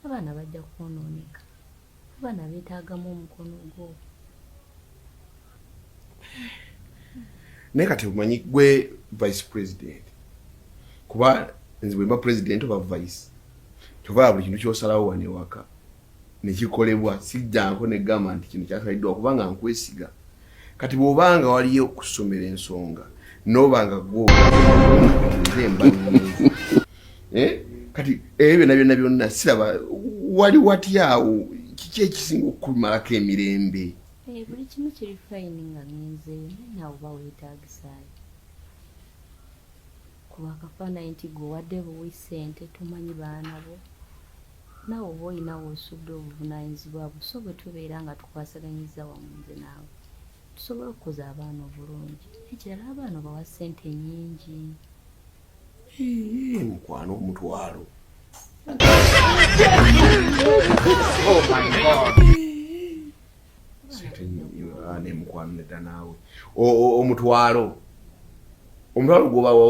abaana bajja kwonooneka abaana beetaagamu omukono gwo naye kati omanyi gwe vice president kuba nze bwemba president oba vice kyovaa buli kintu kyosalawo wanewaka nekikolebwa sijjanko negamba nti kino kyasaliddwa kubanga nkwesiga kati bwoba nga waliyo okusomera ensonga noba nga gwemba eh? kati ebyo byona byona byonna siraba wali watyawo kiki ekisinga okukumalako emirembe eh, buli kimu kiri fayini nga ngenzeyo naye nawe oba weetagisaayo kuba akafaanayi nti gwe wadde buwi sente tomanyi baana bo Nawe oba olina wosudde obuvunanyizibwa bwo so bwetubeera nga tukwasaganyizza wamu nze naawe tusobola okukuza abaana obulungi nekirala abaana obawa sente nyingi mukwano omutwalo oh nemukwano nedda naawe omutwalo omutwalo gwobawo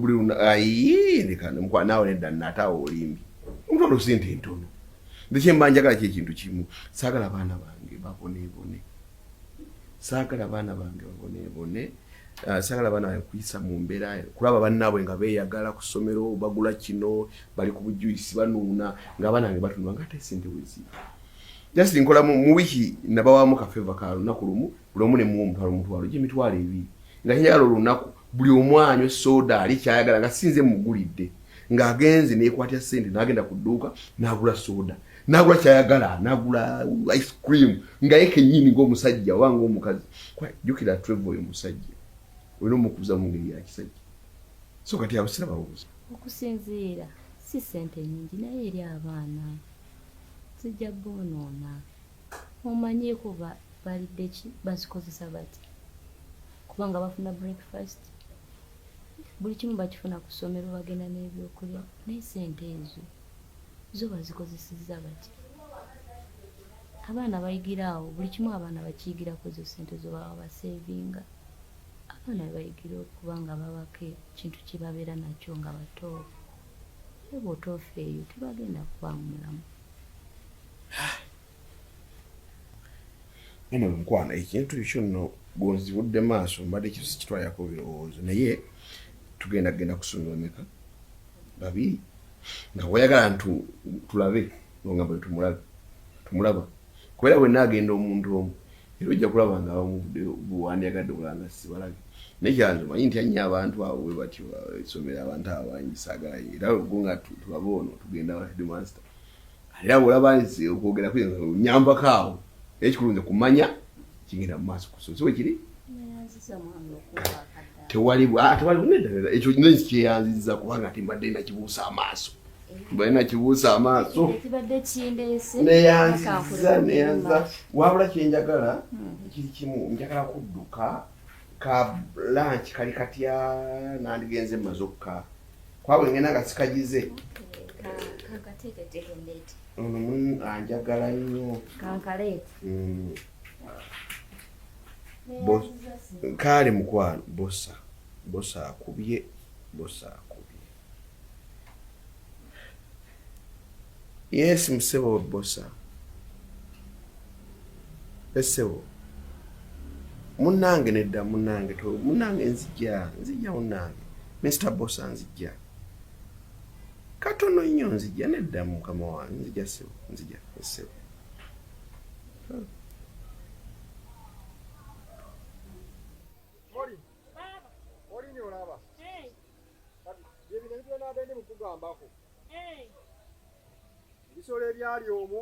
buli lunaayindikanemukwano naawe nedda nataawo olimbi omutwalo sente ntono ndekyemba njagala ki ekintu kimu saagala baana bange babonebone saagala baana bange babonebone ah, saagala baana bange kuyisa mu mbeera kulaba bannaabwe nga beeyagala ku ssomero bagula kino bali ku bujuisi banuuna ng'abaana bange batunula nga ate sente weziri just nkola mu mu wiki nabawamu ka favor ka lunaku lumu buli omu ne muwa omutwalo omutwalo gy'emitwalo ebiri nga njagala olunaku buli omu anywe soda ali kyayagala nga sinze mugulidde ng'agenze neekwatya ssente n'agenda ku dduuka n'agula soda n'agula kyayagala n'agula ice cream nga ye kennyini ng'omusajja oba ng'omukazi jjukira treva oyo omusajja olina omukuza mu ngeri ya kisajja so kati abasira babuuza okusinziira si ssente nyingi naye eri abaana zijja boonoona omanyi kuba balidde ki bazikozesa bati kubanga bafuna breakfast buli kimu bakifuna ku ssomero bagenda n'ebyokulya naye sente ezo zo bazikozesezza bati abaana bayigira awo buli kimu abaana bakiyigirako ezo sente zo baba basevinga abaana bebayigira okuba nga babako ekintu kyebabeera nakyo nga batoofu Naye bw'otoofa eyo tebagenda kubaamu mulamu. Nene mukwano ekintu ekyo nno gonzibudde maaso mbadde kyo sikitwalirako birowoozo naye tugenda genda kusonyiwa meka babiri nga wayagala nti tulabe nongamba tumulabe tumulaba Kubera wenna agenda omuntu omu era ojja kulaba nga abamuvuddeyo bwewandyagadde okulaba nga sibalabye naye kyanze manyi ntya nnyo abantu abo bwe batyo esomero abantu abo bangi saagala era go nga tulabe ono tugenda wa headmaster era bwolaba nze okwogera kwe nyambako awo naye ekikulu nze kumanya kigenda mu maaso ku sozi wekiri kyeyanziza kubanga ati mbadde nakibuusa amaaso mbadde nakibuusa amaaso neyanziza neyanziza wabula kyenjagala ekiri hmm. kimu njagala kudduka ka lanki kali katya nandigenze maze okka kwabwe ngenda nga sikagize ono munu anjagala nnyo mm. kaale mukwano bosa bosa akubye bosa akubye Yes musebo webbosa esebo munange nedda munange to munange nzija nzija munange Mr Bosa nzija katono nnyo nzija nedda mukama wange nzija sebo nzija esebo byebino ebitwenabende mukugambako eh. ebisolo ebyali omwo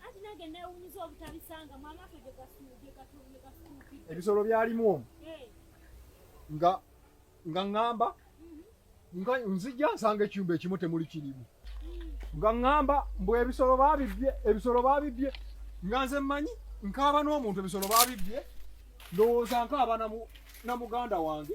anti nange newunyiza obutabisanga mwamaka ebisolo byalimu omwo eh. nga nga ŋŋamba mhm. nga nzija nsanga ekyumba ekimu temuli kirimu mm. nga ŋŋamba mbu ebisolo babibye ebisolo babibye nga nze mmanyi nkaaba n'omuntu ebisolo babibye ndowooza nkaaba na muganda wange